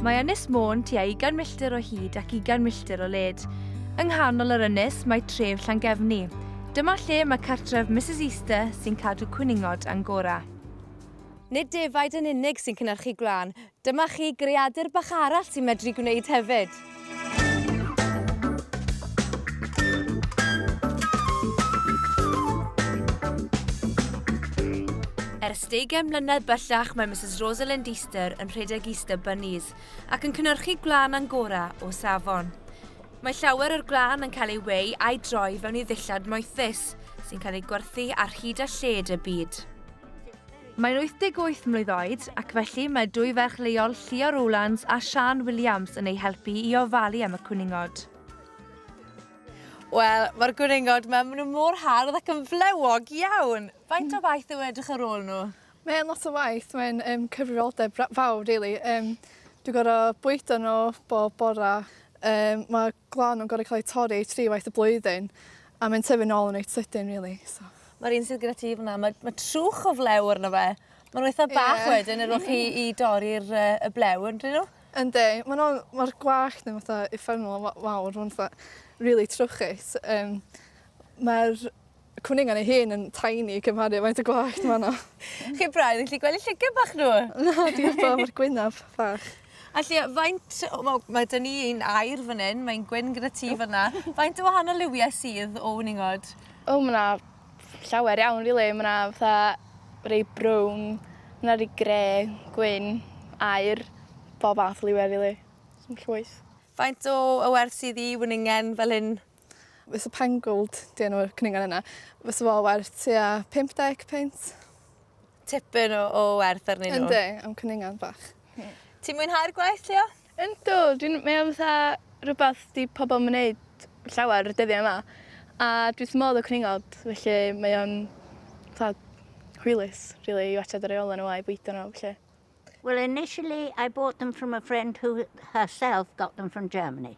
Mae Ynys Môn tua 20 milltir o hyd ac 20 milltir o led. Yng nghanol yr ynys mae tref Llangefni. Dyma lle mae cartref Mrs Easter sy'n cadw cwningod Angora. Nid defaid yn unig sy'n cynhyrchu gwlân, Dyma chi greadur bach arall sy'n medru gwneud hefyd! Ers deugain mlynedd bellach mae Misus Rosalind Easter yn rhedeg Easter Bunnies ac yn cynnyrchu gwlân Angora o safon. Mae llawer o'r gwlân yn cael ei weu a'i droi fewn i ddillad moethus, sy'n cael ei gwerthu ar hyd a lled y byd. Mae'n 88 mlwydd oed ac felly mae dwy ferch leol Llio Rowlands a Siân Williams yn ei helpu i ofalu am y cwningod. Wel, mae'r gwningod ma, maen nhw mor hardd ac yn flewog iawn! Faint o waith yw edrych ar ôl nhw? Mae'n lot o waith, mae'n um, cyfrifoldeb fawr, really. Um, dwi'n gorau bwydo nhw bob bora. Um, mae glan yn gor'o' ca'l ei torri tri waith y blwyddyn a mae'n tyfu nôl yn reit sydyn rili so. Ma'r un sydd gyda ti fan 'na ma' ma' trwch o flew arno fe. Ma' n'w eitha bach wedyn ar ôl chi i dorri'r yy y blew yndyn n'w? Yndi ma' n'w ma'r gwallt yn fatha uffernol o fa- fawr ma'n fatha rili trwchus yym ma'r Y cwningan ei hun yn tiny cymharu â faint o gwallt ma' 'na. Chi braidd yn gallu gweld 'u llygad bach nhw! Na, diolch Bob, ma'r gwynab fach. A Llio, faint o... Wel, ma' 'da ni un aur fan 'yn, mae'n gwyn gyda ti fan 'na. Faint o wahanol liwiau sydd o wningod? O, ma' 'na llawer iawn rili. Ma' 'na fatha rei brown, ma' 'na rei gre, gwyn, aur, bob math o liwiau rili. Llwyth. Faint o o werth sydd i wningen fel hyn? Fysa Pangold, 'di enw'r cwningan yna, fysa fo werth tua 50 punt. Tipyn o, o werth arnyn nhw. Yndi, am cwningan bach. Ti'n mwynhau'r gwaith, Leo? Yndw, dwi'n meddwl fatha rhywbeth di pobl yn wneud llawer y dyddiau yma. A dwi wrth modd o cwningod, felly mae o'n fatha hwylus, really, i watchad y reolau nhw a'i bwydo nhw, felly. Well, initially I bought them from a friend who herself got them from Germany.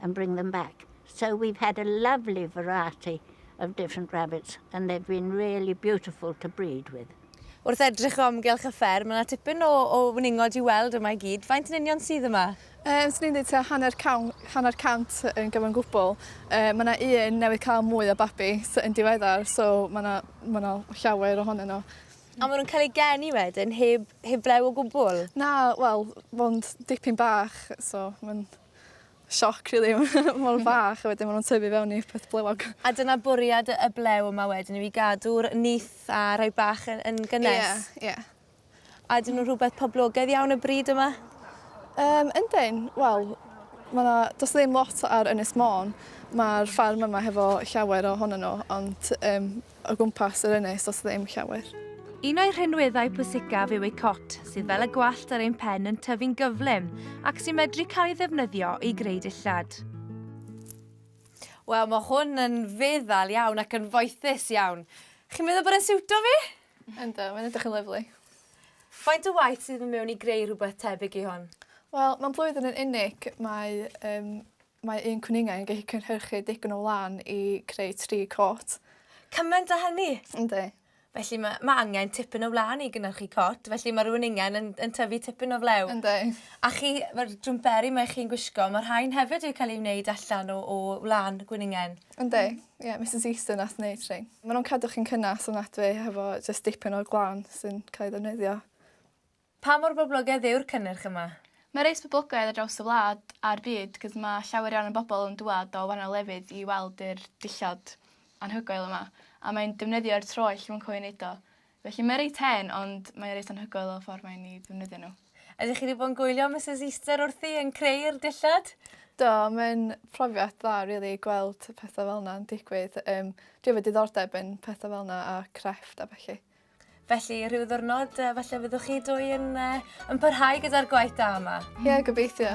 and bring them back. So we've had a lovely variety of different rabbits and they've been really beautiful to breed with. Wrth edrych o amgylch y ffer, mae yna tipyn o, o wningod i weld yma i gyd. Faint yn union sydd yma? Um, Swn i'n dweud ta hanner, cawn, hanner cant yn gyfan gwbl. Uh, mae yna un newydd cael mwy o babi yn diweddar, so mae yna, ma yna llawer ohonyn nhw. A maen nhw'n cael eu geni wedyn heb, heb blew o gwbl? Na, wel, mae'n dipyn bach, so mae'n sioc rili mor fach a wedyn ma' nw'n tyfu fewn i peth blewog. A dyna bwriad y blew yma wedyn yw i gadw'r nyth a rhoi bach yn yn gynnes? Ie ie. A ydyn nw'n rhwbeth poblogedd iawn y bryd yma? Yym yndyn wel ma' 'na do's ddim lot ar Ynys Môn ma'r ffarm yma hefo llawer ohonyn n'w ond yym o gwmpas yr ynys does ddim llawer. Un o'i rhinweddau pwysicaf yw ei cot, sydd fel y gwallt ar ein pen yn tyfu'n gyflym ac sy'n medru cael ei ddefnyddio i greu dillad. Wel, mae hwn yn feddal iawn ac yn foethus iawn. Chi'n meddwl bod e'n siwto fi? Ynddo, mae'n edrych yn lyflu. Faint o waith sydd yn mewn i greu rhywbeth tebyg i hwn? Wel, mae'n blwyddyn yn unig, mae um, Mae un cwningan yn gallu cynhyrchu digon o wlân i creu tri cot. Cymaint â hynny? Yndi. Felly mae ma' angen tipyn o wlân i gynhyrchu cot, felly mae'r wningen yn, yn tyfu tipyn o flew. Yndi. A chi, mae'r jwmperi mae chi'n gwisgo, mae rhain hefyd wedi cael eu wneud allan o, o wlân gwningen. Yndi. Ie, yeah, Misus Easton nath wneud rhain. Maen nhw'n cadw chi'n cynnes ofnadwy hefo jyst dipyn o glân sy'n cael ei ddefnyddio. Pa mor boblogaidd yw'r cynnyrch yma? Mae reit boblogaidd ar draws y wlad a'r byd cos mae llawer iawn o bobl yn dŵad o wahanol lefydd i weld yr dillad anhygoel yma a mae'n defnyddio'r troell i fwncw i wneud o. Felly mae reit hen ond mae o reit anhygoel o'r ffordd mae'n i ddefnyddio nhw. Ydych chi 'di bod yn gwylio Misus Easter wrthi yn creu'r dillad? Do, mae'n profiad dda rili gweld y pethe fel 'na'n digwydd yym dwi efo diddordeb yn petha fel 'na a crefft a bellu. Felly, rhyw ddwrnod, uh, falle fyddwch chi dwy yn, uh, yn parhau gyda'r gwaith da yma. Ie, yeah, gobeithio.